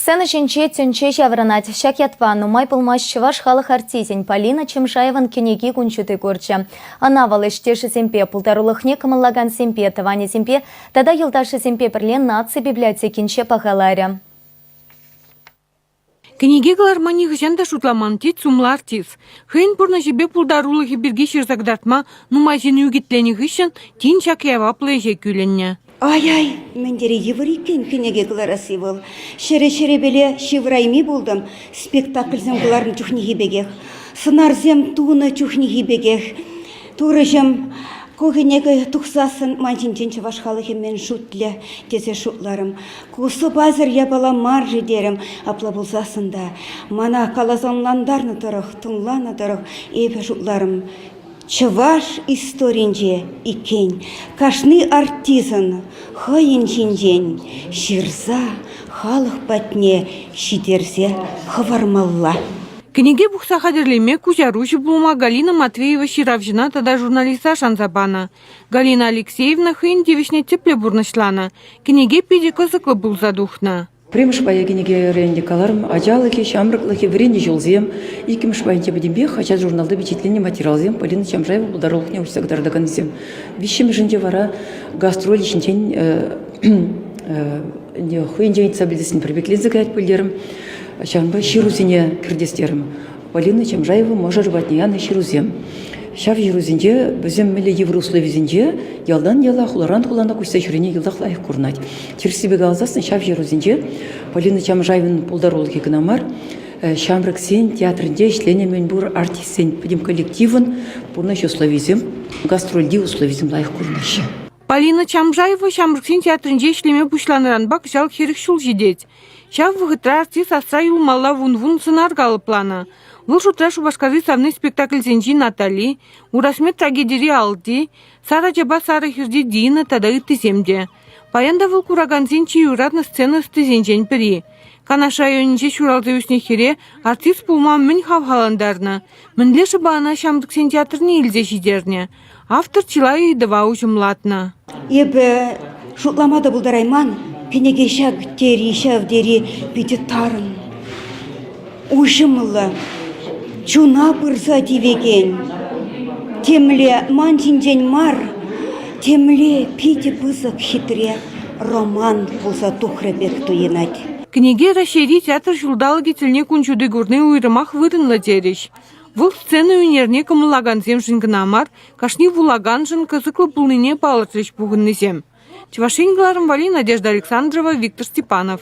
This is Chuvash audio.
Сцена ҫинче тӗнче ҫаврӑнать. Ҫак ятпа нумай пулмасть чӑваш халӑх артисӗн Полина Чемшаеван кӗнеки кун ҫути курчӗ. Ӑна вӑл ӗҫтешӗсемпе, пултарулӑхне кӑмӑллакансемпе, тӑванӗсемпе тата юлташӗсемпе пӗрле наци библиотекинче пахаларӗ. Кӗнеке кӑларма нихӑҫан та шутламан, тет сумлӑ артист. Хӑйӗн пурнӑҫӗпе пултарулӑхӗ пирки ҫырса кӑтартма нумай ҫын ӳкӗтленӗ хыҫҫӑн тин ҫак яваплӑ ӗҫе кӳлӗннӗ. Ай-ай, мӗн тери йывӑр иккен кӗнеке кӑларасси вӑл. Ҫӗрӗ-ҫӗрӗпеле ҫывӑрайми пултӑм спектакльсем кӑларнӑ чухнехи пекех. Сӑнарсем тунӑ чухнехи пекех. Турӑҫӑм, ку кӗнеке тухсассӑн ман ҫинчен чӑваш халӑхӗ мӗн шутлӗ тесе шутларӑм. Ку сӑпасӑр япала мар-ши терӗм. Апла пулсассӑн та мана каласа ӑнлантарнӑ тӑрӑх, тӑнланӑ тӑрӑх эпӗ шутларӑм. Чӑваш историнче иккен кашни артистӑн хӑйӗн ҫинчен ҫырса халӑх патне ҫитерсе хӑвармалла. Кӗнеке пухса хатӗрлеме куҫаруҫӑ пулма Галина Матвеева ҫыравҫӑна тата журналиста шанса панӑ. Галина Алексеевна хӑйӗн тивӗҫне тӗплӗ пурнӑҫланӑ, кӗнеке питӗ кӑсӑклӑ пулса тухнӑ. Пӗрремӗш пая кӗнекерен каларӑм, ачалӑхӗ, ҫамрӑклӑхӗ, вӗреннӗ ҫулсем, иккӗмӗш пайне тепӗтӗмпех хаҫат-журналта пичетленнӗ материалсем Полина Чамшаева пултарулӑхне уҫса кӑтартаканӗсем. Виҫҫӗмӗшӗнче вара гастроль ҫинчен хӑйӗнчен ыйтса пӗлтерсен пӗрпекленсе каять пӗлтерӗм. Ҫавӑнпа ҫырусене кӗртес терӗм. Полина Чамжаева мӑшӑр патне янӑ ҫырусем. Ҫав ҫырусенче вӗсем мӗнле йывӑр условисенче ялтан яла, хуларан хулана куҫса ҫӳрене йӑлтах лайӑх курӑнать. Тӗрӗссипе каласан ҫав ҫырусенче Полина Чамжаевӑн пултарулӑхӗ кӑна мар, ҫамрӑксен театрӗнче ӗҫленӗ мӗнпур артистсен пӗтӗм коллективӑн пурнӑҫ условийӗсем, гастрольти условисем лайӑх курӑнаҫҫӗ. Полина Чамжаева ҫамрӑксен театрӗнче ӗҫлеме пуҫланӑранпа кӑҫал хӗрӗх ҫул ҫитет. Ҫав вӑхӑтра артист асра юлмалла вун-вун сӑнар калӑпланӑ. Вӑл шутра Шупашкарти савни спектакльсенчи «Натали», «Урасмет» трагедири «Алти», «Сар ачапа сарӑ хӗрти Дина» тата ыттисем те. Паян та вӑл куракансен чи юратнӑ сцена ӑстисенчен пӗри. Канаш районӗнче ҫуралса ӳснӗ хӗре артист пулма мӗн хавхалантарнӑ, мӗнле шӑпа ӑна Ҫамрӑксен театрне илсе ҫитернӗ. Автор чылай ыйтӑва уҫӑмлатнӑ. Эпӗ шутлама та пултарайман, кӗнеке ҫак тери, ҫав тери питӗ тарӑн, уҫӑмлӑ, чуна пырса тивекен. Темле ман ҫинчен мар, темле питӗ пысӑк хитре роман пулса тухрӗ пек туйӑнать. Кӗнеке Раҫҫейри Театр ҫулталӑкӗ тӗлне кун ҫути курни уйрӑмах вырӑнлӑ терӗҫ. Вӑл сцена ӳнерне кӑмӑллакансемшӗн кӑна мар, кашни вулаканшӑн кӑсӑклӑ пулнине палӑртрӗҫ пухӑннисем. Чӑваш Ен кӑларӑмвали Надежда Александрова, Виктор Степанов.